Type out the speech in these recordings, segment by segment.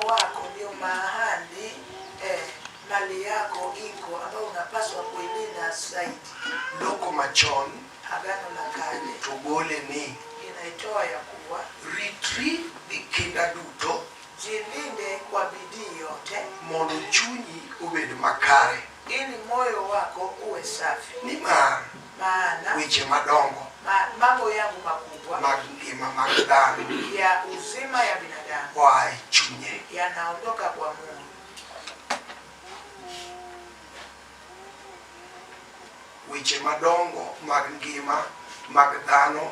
wako ndio mahali eh, mali yako iko ambayo unapaswa kuilinda zaidi. Loko machon Agano la Kale to gole ni inaitoa ya kuwa ritri gi kinda duto jilinde kwa bidii yote, mondo chunyi obed makare. Ili moyo wako uwe safi. Nimar. Maana. Weche madongo. Ma, mambo yangu makubwa. Mag ngima mag dhano. Ya uzima ya binadamu. Oa e chunye. Yanaondoka kwa Mungu. weche madongo mag ngima mag dhano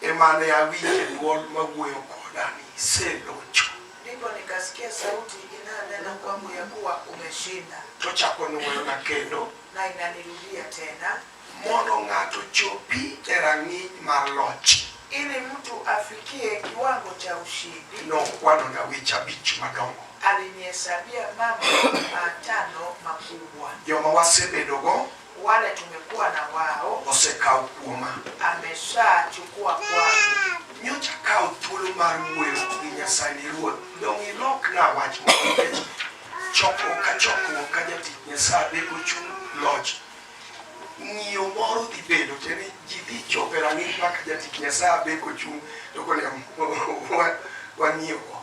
e ma ne awinje dwol ma wuoyo koda ni, 'Iselocho. Ndipo nikasikia sauti inayonena kwangu ya kuwa, Umeshinda. Tochako nwoyona kendo. Na inanirudia tena. Mondo ng'ato ochopi e rang'iny mar loch. Ili mtu afikie kiwango cha ushindi. Nokwanona weche abich madongo. Alinihesabia mambo matano makubwa. Joma wasebedogo. wale tumekuwa na wao osekawo kuoma, ameshachukua kwangu. nyocha akawo thuolo mar wuoyo gi Nyasaye ni Ruoth, dong' ilokna wach moro nikech chokruok ka chokruok ka jatich Nyasaye be ochung' loch. Ng'iyo moro dhi bedo te ni ji dhi chopo e rang'iny ma ka jatich Nyasaye be kochung' to konego wa- wang'iyo go.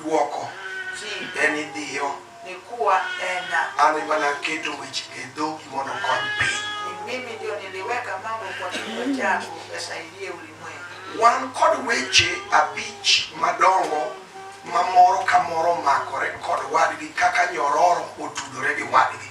Dwoko, Ji. En idhiyo. Ni kuwa, Ena. An ema naketo weche e dhogi mondo okony piny. Ni mimi ndio niliweka mambo kwa kinywa chako yasaidie ulimwengu. Wan kod weche abich madongo ma moro ka moro omakore kod wadgi kaka nyororo otudore gi wadgi.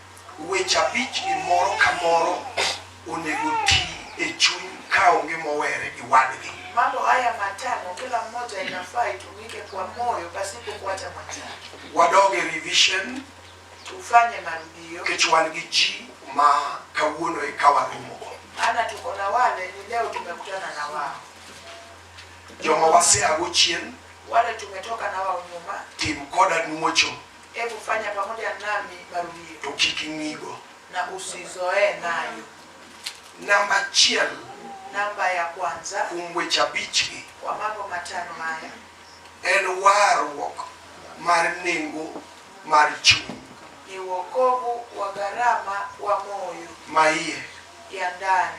Weche abichgi moro ka moro onego ti e chuny ka onge mowere gi wadgi. Mambo haya matano kila mmoja inafaa itumike kwa moyo pasipo kuacha matatu. Wadog e revision. Tufanye marudio. Nikech wan gi ji ma kawuono e ka waromogo. Maana tuko na wale ni leo tumekutana na wao. Joma waseago chien. Wale tumetoka na wao nyuma. Tim koda nuocho. Hebu fanya pamoja nami marudio. To kik ing'igo. Na usizoee nayo. Namba achiel. Namba ya kwanza. Kuom weche abichgi. Kwa mambo matano haya. En warruok mar nengo mar chuny. Ni wokovu wa gharama wa moyo. Maiye. Ya ndani.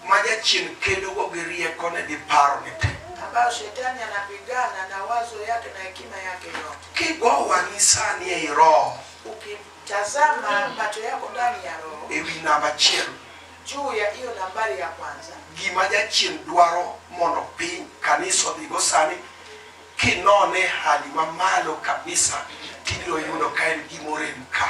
ma Jachien kedogo gi riekone gi parone te. ambayo Shetani anapigana na wazo yake na hekima yake yote. Kigo wang'i sani ei Roho Ukitazama macho yako ndani ya Roho ewi namba achiel, juu ya hiyo nambari ya kwanza, gima Jachien dwaro mondo piny kanisa odhigo sani, kinone hali mamalo kabisa, tibiro yudo ka en gima orem ka.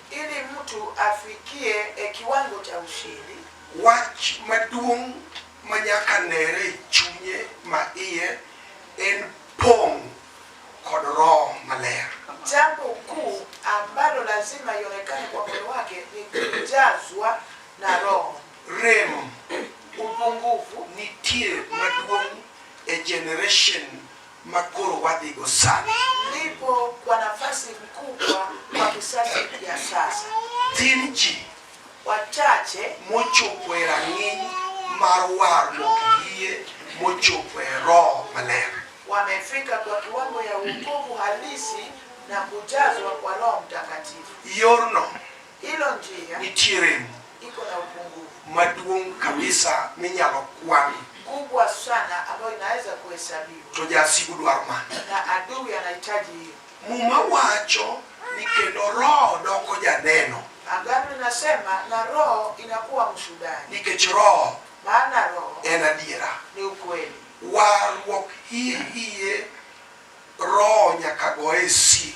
Ili mtu afikie e kiwango cha ushindi. Wach maduong' ma nyaka nere e chunye ma iye en pong' kod Roho Maler. Jambo kuu ambalo lazima ionekane kwa moyo wake ni kujazwa na Roho. Rem upungufu nitie maduong' e generation ma koro wadhigo sani. Lipo kwa nafasi mkubwa kwa kisasi ya sasa. Tin ji wachache mochopo e rang'iny mar warruok yie mochopo e Roho Maler wamefika kwa kiwango ya wokovu halisi na kujazwa kwa Roho Mtakatifu. Yorno Hilo njia nitie remo iko na upungufu maduong' kabisa minyalo kwan, kubwa sana ambayo inaweza kuhesabiwa, to jasigu dwaro mano. na adui anahitaji hiyo. Muma wacho ni kendo roho doko janeno, Agano inasema na roho inakuwa mshuhudaji, nikech roho maana roho en adiera. ni ukweli. Warruok hie hie roho nyaka goye sil.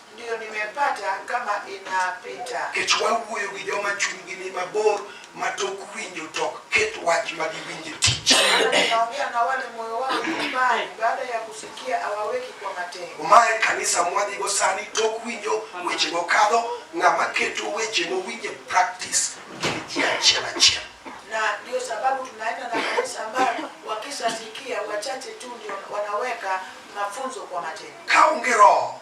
Ndio nimepata kama inapita. Kech wawuoyo gi joma chunygi ni mabor ma tok winjo tok ket wach ma giwinje tich. Naongea na wale moyo wao ni mbali baada ya kusikia hawaweki kwa matendo. Umaye kanisa mwadhigo sani tok winjo weche mokadho ng'ama keto weche mowinje practice gin ji achiel achiel. Na ndio sababu tunaenda na kanisa ambayo wakishasikia wachache tu ndio wanaweka mafunzo kwa matendo. Kaonge roho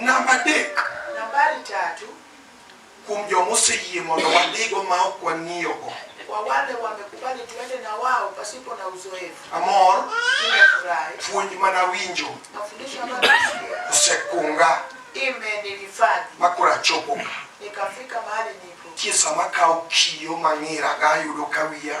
Namba adek. Nambari tatu. Kuom joma oseyie mondo wadhigo ma ok wang'iyogo. Kwa wale wamekubali tuende na wao pasipo na uzoefu. Amor. Nimefurahi. Puonj mana winjo. Mafundisho ambayo nasikia. Osekunga. Imenihifadhi. Makura chopo. Nikafika mahali nipo. Kisa makao kiyo mang'ira ga yudo ka wiya.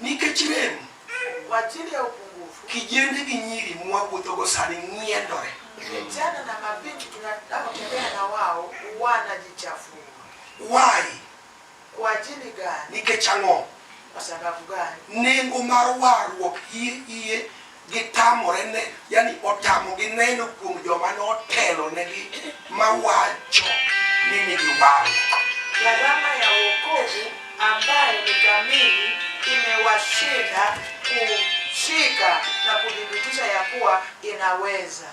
Nikech rem, kijende gi nyiri mwawuothogo sani ng'iendore. Vijana na mabinti tunaotembea na wao wanajichafua. Why? Kwa ajili gani? Nikech ang'o? Kwa sababu gani? Nengo mar warruok hie hie Gitamore ne, yani otamogi neno kuom joma notelo negi mawacho ni nigi wang'. Gharama ya wokovu ambayo ni kamili imewashinda kushika na kudhibitisha ya kuwa inaweza.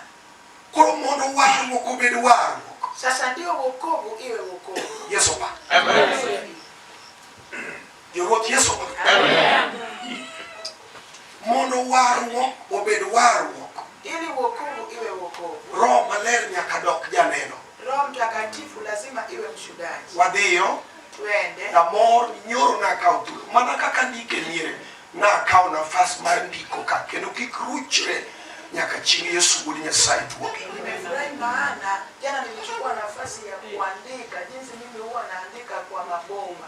Koro mondo warruok obed warruok. Sasa ndio wokovu iwe wokovu. Yesu pa. Amen. Jowuoth Yesu mondo warruok obed warruok. Ili wokovu iwe wokovu. Roho maler nyaka dok janeno. Roho Mtakatifu lazima iwe mshudaji. Wadhiyo. Twende. Na mor nyoro na kawo thuolo mana kaka ndike miere na kawo nafas mar ndiko ka kendo kik ruchre nyaka chieng' Yesu wuod Nyasaye duogi. Nimefurahi maana jana nilichukua nafasi ya kuandika jinsi mimi huwa naandika kwa maboma.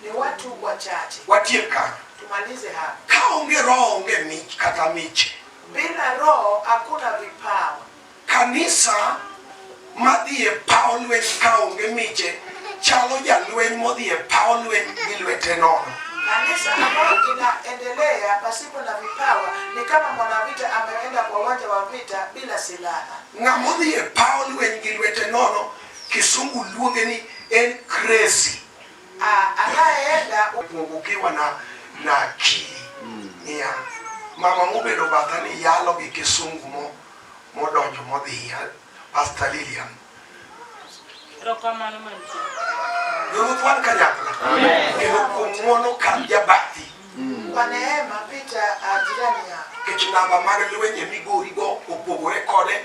Ni watu wachache. Watiek kanyo. Tumalize hapa. Ka onge roho onge mich kata miche. Bila roho hakuna vipawa. Kanisa madhi e paw lweny ka onge miche chalo jalweny modhi e paw lweny gi lwete nono. Kanisa ambayo inaendelea pasipo na vipawa ni kama mwanavita ameenda kwa uwanja wa vita bila silaha. Ng'ama odhi e paw lweny gi lwete nono, Kisungu luonge ni en crazy. Anaenda ukiwa na na akili mm. Nia mama mubedo batha ni yalo gi kisungu mo modonjo modhiya Pastor Lilian Rokamano mantie. Ruth wan kanyakla. Amen. Kendo kuom ng'wono kar jabati. Mm. Kwa neema pita ajirani ah, yako. Kech namba mag lwenje migorigo opogore kode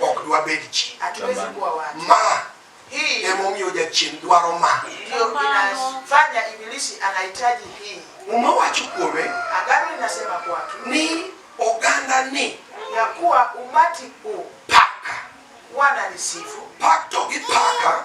ok dwabed ji. Ma emomiyo jachien dwaro ma. Muma wacho kuome ni oganda ni paka. Pak to gi paka.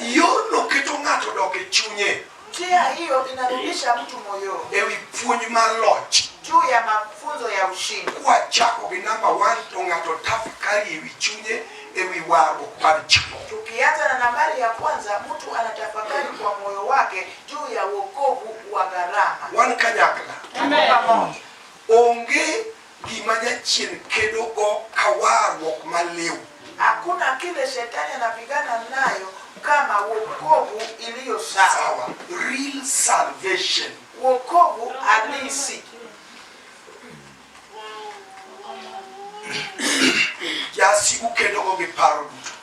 Yorno keto ng'ato dok e chunye Njia hiyo inarudisha mtu moyoni e wi puonj mar loch. juu ya mafunzo ya ushindi. Kwachako gi namba 1 to ng'ato tafakari e wi chunye e wi warruok mar chiwo. Tukianza na nambari ya kwanza, mtu anatafakari kwa moyo wake juu ya wokovu wa gharama. Wan kanyakla Tuko pamoja. onge Gima Jachien kedogo ka warruok maliw. Hakuna kile shetani anapigana nayo kama wokovu iliyo sawa. Sawa, real salvation. Wokovu halisi. Jasigu kedogo gi paro duto.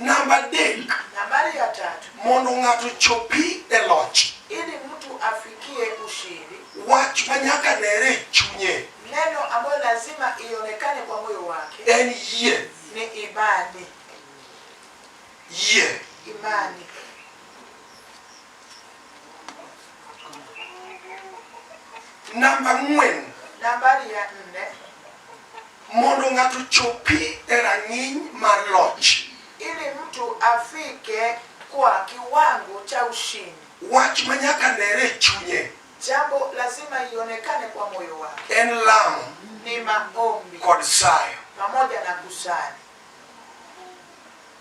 Namba adek. Nambari ya tatu. Mondo ng'ato ochopi e loch. Ili mtu afikie ushindi. Wach ma nyaka nere e chunye. Neno ambayo lazima ionekane kwa moyo wake. En yie. Ni imani. Yie. Imani. Namba ang'wen. Nambari ya nne. Mondo ng'ato chopi e rang'iny mar loch. Ili mtu afike kwa kiwango cha ushindi. Wach ma nyaka nere e chunye. Jambo lazima ionekane kwa moyo wake. En lamo. Ni maombi. Kod sayo. Pamoja na kusali.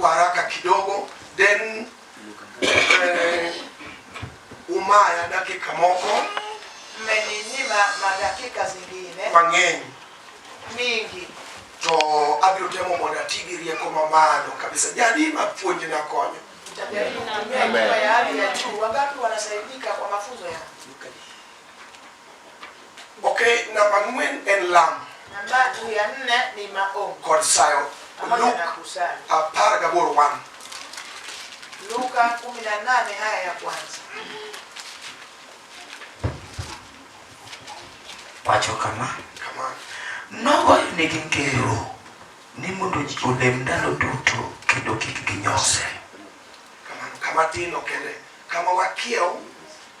kwa haraka kidogo then eh, umaya dakika moko mmeninyima madakika zingine mang'eny mingi to abiro temo mondo ati gi rieko mamalo kabisa jadi ma puonj na konyo Nitajaribu kutumia Amen. lugha ya hali ya juu. Wangapi wanasaidika kwa mafunzo ya Ok, namba ang'wen en lamo. Namba ya nne ni maombi. Kod sayo. Pamoja Luke na kusali. apar gaboro one. Luka 18 haya ya kwanza. Wacho kama. Kama. Nogoyonegi ngero ni mondo ji olem ndalo duto kendo kik ginyose. Kamano, kama tin okende. Kama wakiew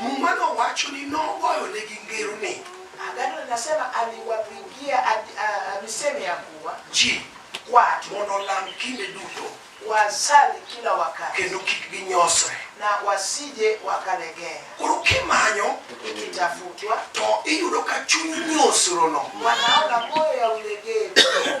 Muma nowacho ni nogoyonegi ngero ni. Agano linasema aliwapigia misemo ya kuwa ji watu mondo olam kinde duto, wasali kila wakati, kendo kik ginyosre na wasije wakalegea. Koro kimanyo ikitafutwa, to iyudo ka chuny nyosrono, wanaona moyo ya ulegevu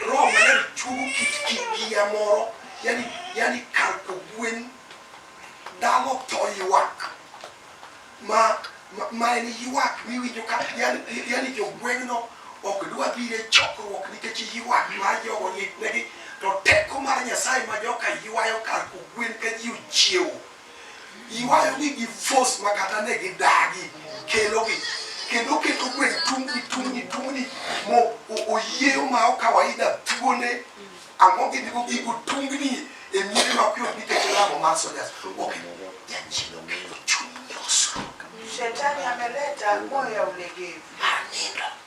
Roho maler chuogo kit kigiya moro, yani, yani kar kogwen dhano to ywak ma ma en ywak miwinjo ka yani jogweng'no ok dwa biro e chokruok nikech ywak mar jogo litnegi to teko mar nyasaye ma joka ywayo kar kogwen ka ji ochiewo Iwayo ni gi force ma kata ne gi dagi kelo gi kendo keto gweng tungni tungni tungni mo oyieyo ma o kawaida thuone ang'o gi digo gigo tungni e miere ma kuyot nikech lamo mar soldiers ok jachino kelo chuny nyosruok shetani ameleta moya ulegevu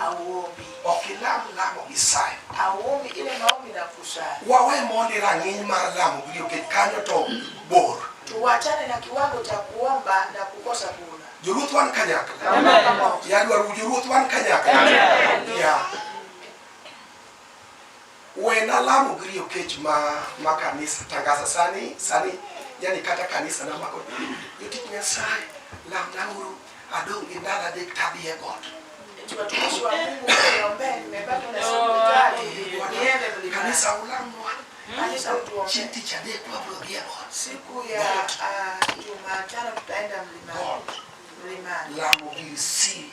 Awuobi. Ok ilam lamo gi sayo. Awuobi ile maombi na kusayo. Wawe mondi rang'iny mar lamo gi jokech kanyo to bor. Tuwachane na kiwango cha kuomba na kukosa kuna. Joluth wan kanyakla. Amen. Yadwaru joluth wan kanyakla. Amen. Yeah. Wena lamo gi riyo kech ma ma kanisa tangasa sani sani yani kata kanisa na mako jotich Nyasaye lamna uru adong gi ndalo adek tadhi e got. Watumishi wa Mungu mniombee, nimepatwa na hospitali, niende mlimani. Kanisa ulamwa Kanisa chieng' utuombee. tich adek wabro gi e got. Siku ya ah, Jumatano tutaenda mlimani. Got. Mlimani. Lamo gi si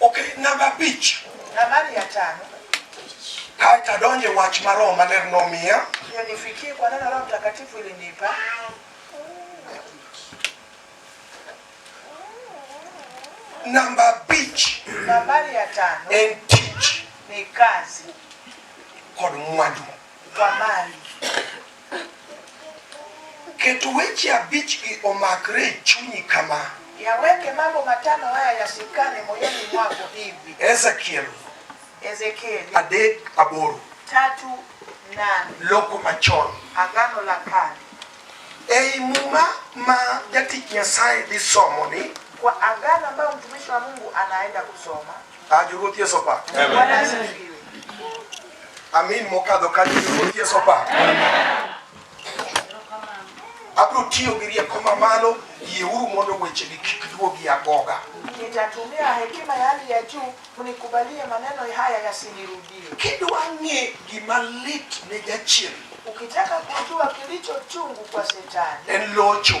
Okay, namba abich. Nambari ya tano. Kaita donje wach ma Roho Maler nomiya. Ndio nifikie kwa neno Roho Mtakatifu ilinipa. Namba abich. Nambari ya tano. En tich. Ni kazi. Kod mwandu. Wamany. Ket weche abichgi omakre e chunyi kama. Yaweke mambo matano haya yasikane moyoni mwako hivi. Ezekiel. Ezekiel. Adek aboro. Tatu nane. Loko machon. Agano la kale. Ei muma ma jatich Nyasaye dhi somo ni. Kwa agano ambayo mtumishi wa Mungu anaenda kusoma. Ah, Jowuoth Yesu opa. Amin mokadho kanyo Jowuoth Yesu opa. Abiro tiyo gi rieko mamalo, yieuru mondo wechegi kik duogi agoga. Nitatumia hekima ya hali ya juu mnikubalie maneno haya yasinirudie. Kidwa ng'e gima lit ne jachien Ukitaka kujua kilicho chungu kwa shetani en locho.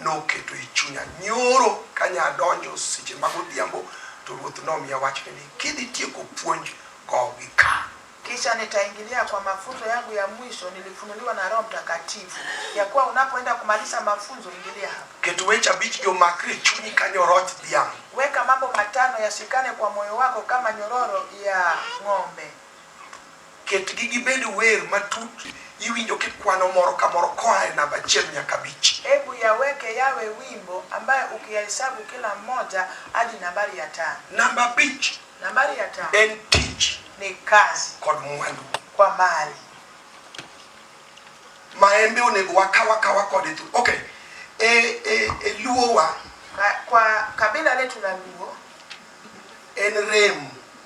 Noketo e chunya nyoro ka nya donjo seche mag odhiambo to Ruoth nomiya wachni ni, kidhi tieko puonj go gi ka. Kisha nitaingilia kwa mafunzo yangu ya mwisho nilifunuliwa na Roho Mtakatifu ya kuwa unapoenda kumaliza mafunzo ingilia hapa. Ket weche abichgi omakre e chunyi ka nyoroch dhiang'. Weka mambo matano yashikane kwa moyo wako kama nyororo ya ng'ombe. Ketgi gibed wer matut iwinjo kikwano moro ka moro koa e namba achiel nyaka abich. Hebu yaweke yawe wimbo ambayo ukiyahesabu kila mmoja hadi nambari ya tano. Namba abich Nambari ya tano en tich ni kazi kod mwandu. kwa mali. Maembe onego wakaw akawa kode tu. Okay. E, e, e luowa Ka- Kwa kabila letu la Luo en rem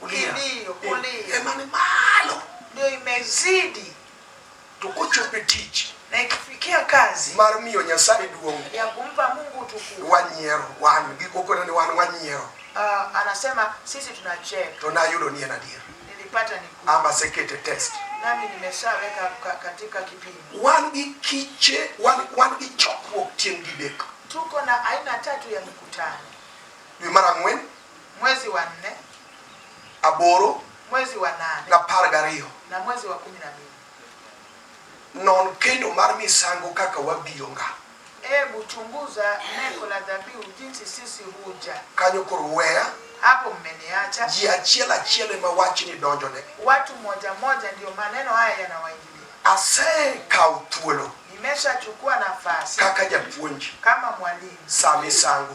kulia ndio kulia ema ni malo ndio imezidi tukuchupe tich na ikifikia kazi mar miyo nyasaye duong ya kumpa mungu tukufu wanyiero wan gikokona ni wan wanyiero uh, anasema sisi tunacheka to nayudo ni en adier nilipata ni ama sekete test nami nimeshaweka katika kipimo wan gi kiche wan, wan gi chokruok tieng' didek tuko na aina tatu ya mikutano dwe mar ang'wen Mwezi wa nne. Aboro. Mwezi wa nane. Na par gariyo. Na mwezi wa kumi na mbili. Non kendo mar misango kaka wabiro nga. Ebu chunguza neko la dhabihu jinsi sisi huja. Kanyo koro weya. Hapo mmeniacha. Ji achiel achiel ema wachni donjone. Watu moja moja ndio maneno haya yanawaingia asekawo thuolo nimeshachukua nafasi kaka japuonj kama mwalimu saa misango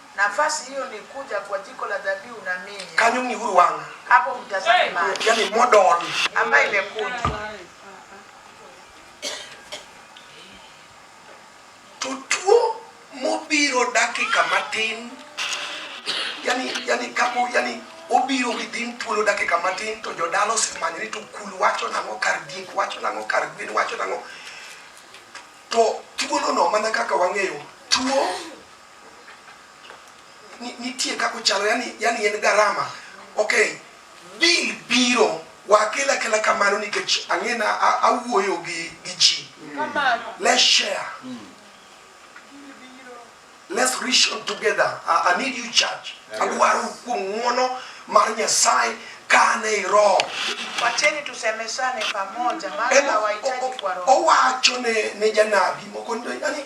Nafasi hiyo ni kuja kwa jiko la dhabihu na minya. Kanyo ni huru wanga. Hapo mtazame maji. Yaani model ambayo imekuja. Tutuo mobiro dakika matin. Yaani yaani kapo yaani obiro gidhin thuolo dakika matin to jodala osemanyore to kul wacho nang'o kar diek wacho nang'o kar gwen wacho nang'o to thuolono mana kaka wang'eyo tuo nitie kako chalo yani, yani en garama okay bil biro wakela kela kamano nikech ang'ena awuoyo gi gi ji let's share mm. let's reach out together I, I need you church adwaro kuom ng'wono mar nyasaye kane i roho wacheni tusemesane pamoja maana hawahitaji kwa roho owacho ne ne janabi moko yani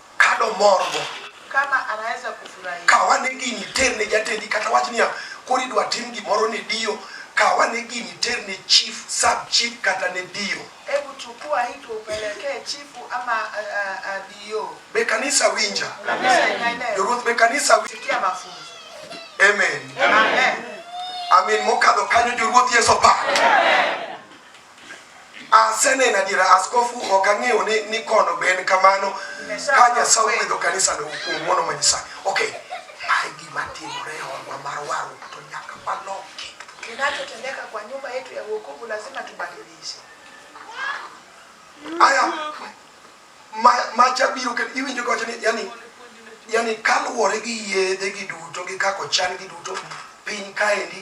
Kado morgo. Kama anaweza kufurahia. Kawa ne gini ter ne jatendi kata wach niya koro idwa tim gimoro ne dio kawa ne gini ter ne chief sub chief kata ne dio hebu chukua hiki upelekee chifu ama uh, uh, uh, dio be kanisa winja joruoth be kanisa winja mafunzo amen amen amen mokadho kanyo joruoth yeso pa amen Aseneno adiera askofu ok ang'eyo ni ni kono ben kamano ka Nyasaye ogwedho kanisa no kuom mono ma Nyasaye. Okay. Mae gima timore e odwa mar waru to nyaka waloki. Kinachotendeka kwa nyumba yetu ya wokovu lazima tubadilishe. Aya ma ma chabiro ke iwinjo gote ni yani yani kaluwore gi yedhe gi duto gi kako chan gi duto piny kaendi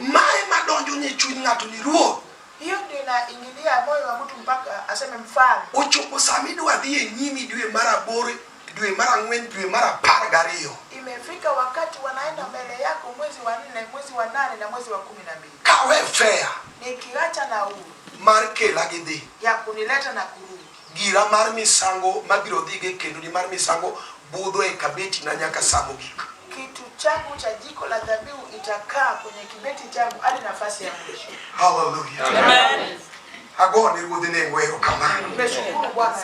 Mae madonjo ne chuny ng'ato ni ruoth. Hiyo ndio inaingilia moyo wa mtu mpaka aseme mfalme. Ochopo sama idwa dhi e nyimi dwe mar aboro, dwe mar ang'wen, dwe mar apar gariyo. Imefika wakati wanaenda mbele yako mwezi wa nne, mwezi wa nane na mwezi wa kumi na mbili. Kawe fea. Nikiacha na huu. Mar kela gi dhi. Ya kunileta na kurudi. Gira mar misango mabiro dhigo e kendoni mar misango budho e kabetina nyaka sa mogik. Kitu changu cha jiko la dhabihu itakaa kwenye kibeti changu hadi nafasi ya mwisho. Haleluya. Amen. Ago ni ruodhi ne ngwero kama. Nimeshukuru Bwana.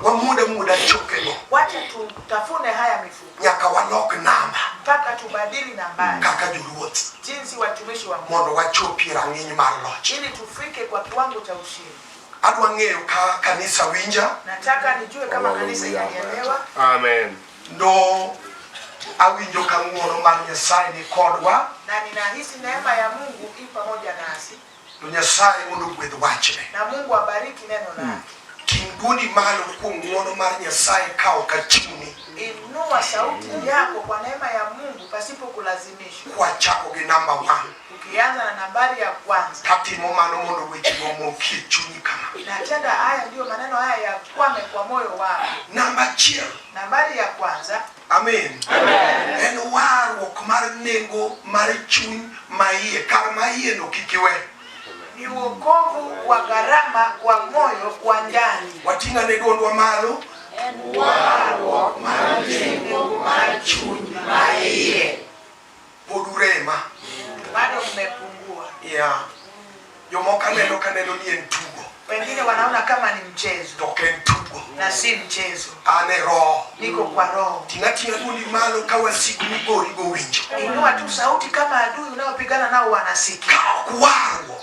Wamude muda chokego. Wacha tutafune haya mifupa. Nyaka walok namba. Mpaka tubadili nambari. Kaka joluoth. Jinsi watumishi wa Mungu. Mondo wachopie rang'iny mar loch. Ili tufike kwa kiwango cha ushindi. Adwa ng'eyo ka kanisa winja. Nataka nijue kama kanisa inanielewa. Amen. Ndo awinjo ka ng'wono mar Nyasaye ni kodwa. Na ninahisi neema ya Mungu i pamoja nasi. To Nyasaye mondo ogwedh wachne. Na Mungu abariki neno lake. Hmm. Ting' dwondi malo kuom ng'wono mar Nyasaye ka ok achuni. Inua sauti yako kwa neema ya Mungu pasipo kulazimishwa. Kwachako gi namba 1. Ukianza na nambari ya kwanza. Tatimo mano mondo weche momokie chunyi kama. Natenda haya ndio maneno haya yakwame kwa moyo wako. Namba achiel. Nambari ya kwanza. Amen. Amen. En warruok mar nengo mar chuny ma iye kar ma iye no kik iwe. Ni wokovu wa gharama wa moyo kwa ndani. Wating'a ne dwondwa malo. En warruok mar nengo mar chuny ma iye. pod urema bado mmepungua yeah. jomoko aneno kaneno ni en tugo wengine wanaona kama ni mchezo to ok en tugo na si mchezo an e roho niko kwa roho tinatina dundi malo ka wasiku migori gowinjo inua tu sauti kama adui unaopigana nao wanasikia Ka ok warruok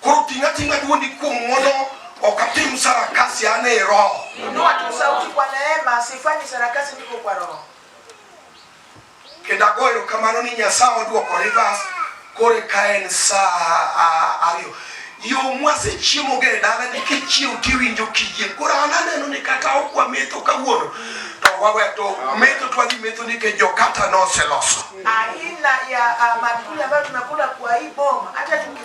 Koro ting' ating'a dwondi kuom ng'wono, ok atim sarakasi an e Roho. Inua tu sauti kwa neema, sifanyi sarakasi, niko kwa Roho. Kendo ago erokamano ni Nyasaye odwoko rivers koro ka en saa ariyo. Yo mwasechiemoga e dala ni kichiew tiwinjo kiyieng'. Koro an aneno ni kata ok wametho kawuono to wawe to metho twadhi metho nikech jokata noseloso. Aina ya uh, maakuli ambayo tunakula kwa hii boma hata tuki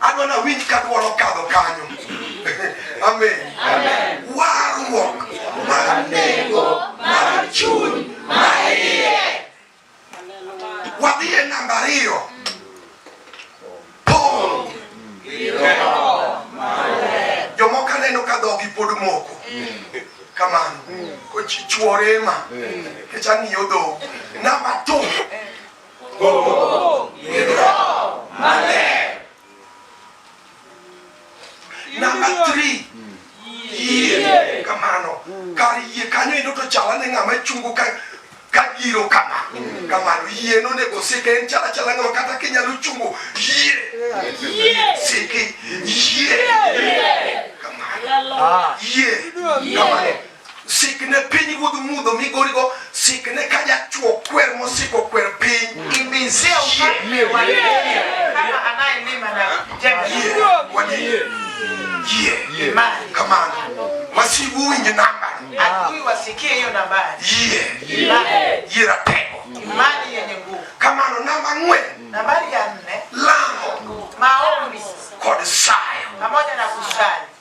Adwa na winj ka dwol okadho kanyo. Amen. Amen. Warruok mar nengo mar chuny ma iye. Wadhi e namba ariyo. Pong' gi roho maler. Jomoko aneno ka dhogi pod moko. Kamano. Kochichuore ma. Kech ang'iyo dho. Namba two. Number three. Yie. Kamano. Kar yie kanyo ino to chala ne ng'ama chungo ka ka giro kama. Kamano yie no nego sike en chala chala ng'ama kata kinyalo chungo yie. Yie. Sike yie. Kamano. Ah. Yie. Kamano. Sikne pinyruodh mudho migorigo, sikne ka jachwo kwer mosiko kwer piny. Kamano wasigu uwinj namba yie ratego. Kamano namba ang'wen lamo kod sayo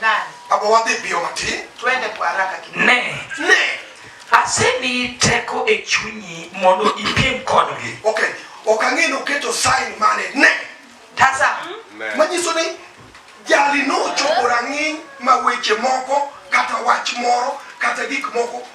Nani? Abo wadhi biyo matin. Twende kwa haraka kidogo. Ne. Ne. Asemi teko e chunyi mondo ipiem kodgi. Okay. Ok ang'e ni oketo sign mane. Ne. Tazama. Hmm? Manyiso ni jali nochopo rang'iny ma weche moko kata wach moro kata gik moko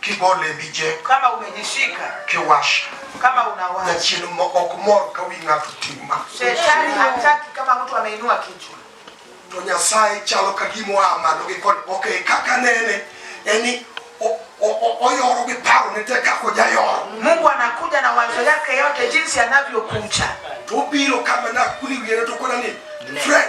kigole mijeko kama umejishika kiwasha kama unawasha na chini ok mor ka wi ng'ato tima shetani hataki kama mtu ameinua kichwa to nyasaye chalo ka gimo a malo gi kod okay kaka nene yani oyoro gi paro ne te kako jayoro mungu anakuja na wazo yake yote jinsi anavyokuja tubiro kama nakuli wiere to kona ni fred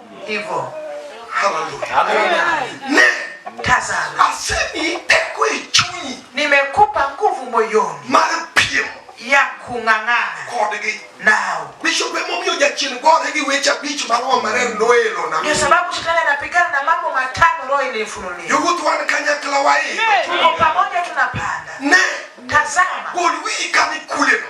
hivyo. Haleluya, ne tazama, asemi tekwe chunyi, nimekupa nguvu moyoni mar piem ya kung'ang'ana kodgi nao bishop emomiyo jachien gore gi weche abich ma roho maler noelo na ndio sababu shetani anapigana na mambo matano roho ilifunulia yugutu wan kanyakla waii tuko pamoja tunapanda ne tazama gol wii kani kuleno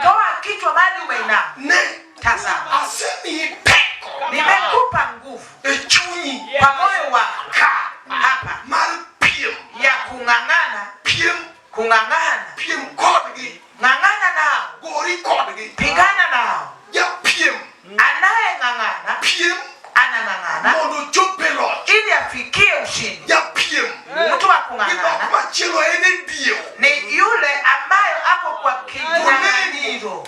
toa kichwa bali umeinama ne Tazama, asemi peko, nimekupa nguvu echunyi kwa moyo wa kaa hapa mar piem ya kung'ang'ana piem kung'ang'ana piem kodgi ng'ang'ana nao gori kodgi pigana nao ja piem anaye ng'ang'ana piem anang'ang'ana mondo ochop e loch ili afikie ushindi ja piem mtu wa kung'ang'ana machielo en e dio ni yule ambayo ako kwa kinyang'anyiro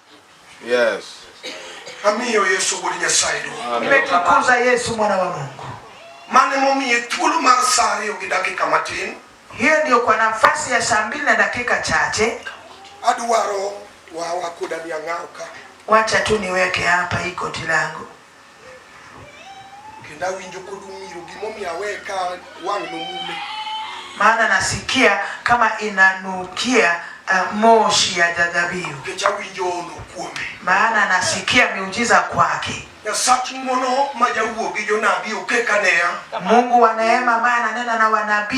Yes. Amiyo Yesu wuod Nyasaye duong'. Nimetukuza Yesu mwana wa Mungu. Mane momiye thuolo mar saa ariyo gi dakika matin. Hiyo ndio kwa nafasi ya saa mbili na dakika chache. Adwaro wawa koda niang'ao ka. Wacha tu niweke hapa hii koti langu. Kendo awinjo kod umiro gimomiyo aweye ka wang' nomume. Maana nasikia kama inanukia uh, moshi ya dhabihu. Nikech awinjo ono kuome. Maana nasikia miujiza kwake. Nyasach ng'wono ma jawuo gi jonabi okeka neya. Mungu wa neema ambaye ananena na wanabii.